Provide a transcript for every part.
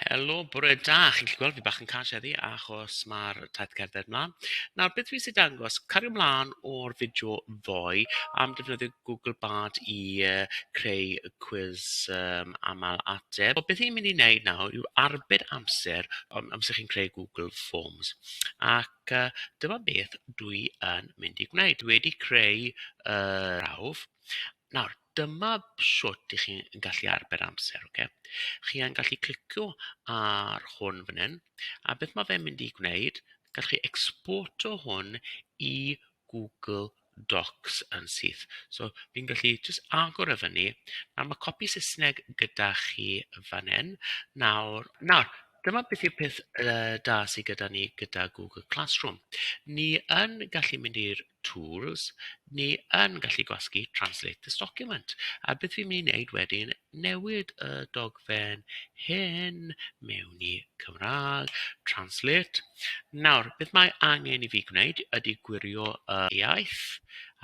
Helo, bore da. Chi'n gallu gweld fi bach yn cân sieddi achos mae'r taith cerdded mlaen. Nawr, beth fi sy'n dangos, cario mlaen o'r fideo ddoe am defnyddio Google Bard i uh, creu y cwiz um, aml ateb. Wel, beth i'n mynd i wneud nawr yw arbed amser um, amser chi'n creu Google Forms. Ac uh, dyma beth dwi yn mynd i gwneud. Dwi wedi creu uh, prawf. Nawr, Dyma shwt i chi'n gallu arbed amser ocê. Chi yn gallu clicio ar hwn fan hyn a beth ma' fe'n mynd i gwneud gallwch chi exporto hwn i Google Docs yn syth so fi'n gallu jyst agor e fyny nawr ma' copi Saesneg gyda chi fan hyn nawr nawr dyma beth yw'r peth yy da sy gyda ni gyda Google Classroom ni yn gallu mynd i'r tools, ni yn gallu gwasgu translate this document. A beth fi'n mynd i wneud wedyn, newid y dogfen hyn mewn i Cymraeg, translate. Nawr, beth mae angen i fi gwneud ydy gwirio y iaith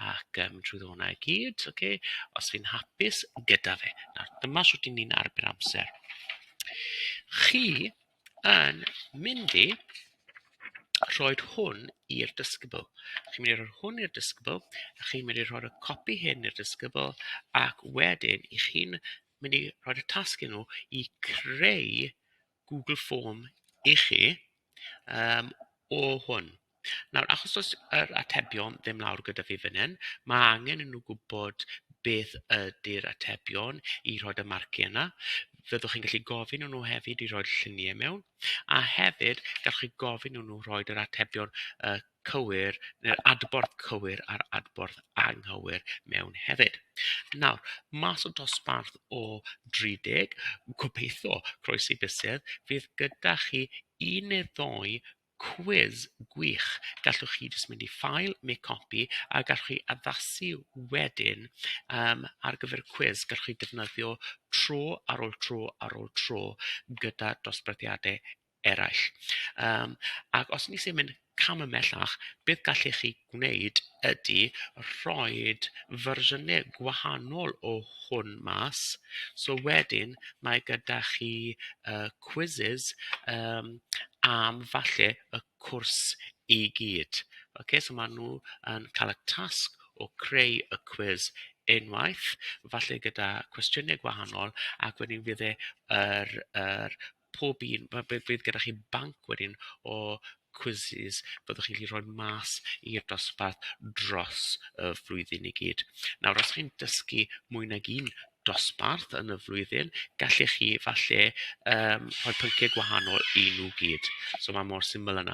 ac um, trwy ddona i gyd, okay? os fi'n hapus gyda fe. Nawr, dyma sut i ni'n arbed amser. Chi Yn mynd i rhoi hwn i'r disgybl. Chi'n mynd i rhoi hwn i'r disgybl a chi'n mynd i rhoi'r copi hyn i'r disgybl ac wedyn i chi'n mynd i rhoi'r tasg i nhw i creu Google form i chi yym o hwn. Nawr, achos does yr atebion ddim lawr gyda fi fan hyn, mae angen i nhw gwybod beth ydy'r atebion i rhoi y marciau yna. Fyddwch chi'n gallu gofyn i nhw hefyd i roi'r lluniau mewn, a hefyd gallwch chi gofyn i nhw rhoi yr atebion uh, cywir, neu'r adborth cywir a'r adborth anghywir mewn hefyd. Nawr, mas o dosbarth o 30, gobeithio, croesi bysedd, fydd gyda chi un neu ddoi Cwis gwych! Gallwch chi jyst mynd i File, Make Copy, a gallwch chi addasu wedyn yym ar gyfer y cwis. Gallwch chi ddefnyddio tro ar ôl tro ar ôl tro gyda dosbarthiadau eraill. Yym ac os ni isie mynd cam ymhellach, beth gallech chi gwneud ydy rhoi fersiynau gwahanol o hwn mas, so wedyn mae gyda chi y quizzes yym am falle y cwrs i gyd, ocê so maen nhw yn cael y tasg o creu y cwis unwaith, falle gyda cwestiynau gwahanol ac wedyn fydd e yr yr pob un, ma' b- bydd gyda chi banc wedyn o quizzes fyddwch chi'n gallu rhoi mas i'r dosbarth dros y flwyddyn i gyd. Nawr, os chi'n dysgu mwy nag un dosbarth yn y flwyddyn, gallech chi falle yym rhoi pynciau gwahanol i nhw gyd. So ma' mor syml â 'na.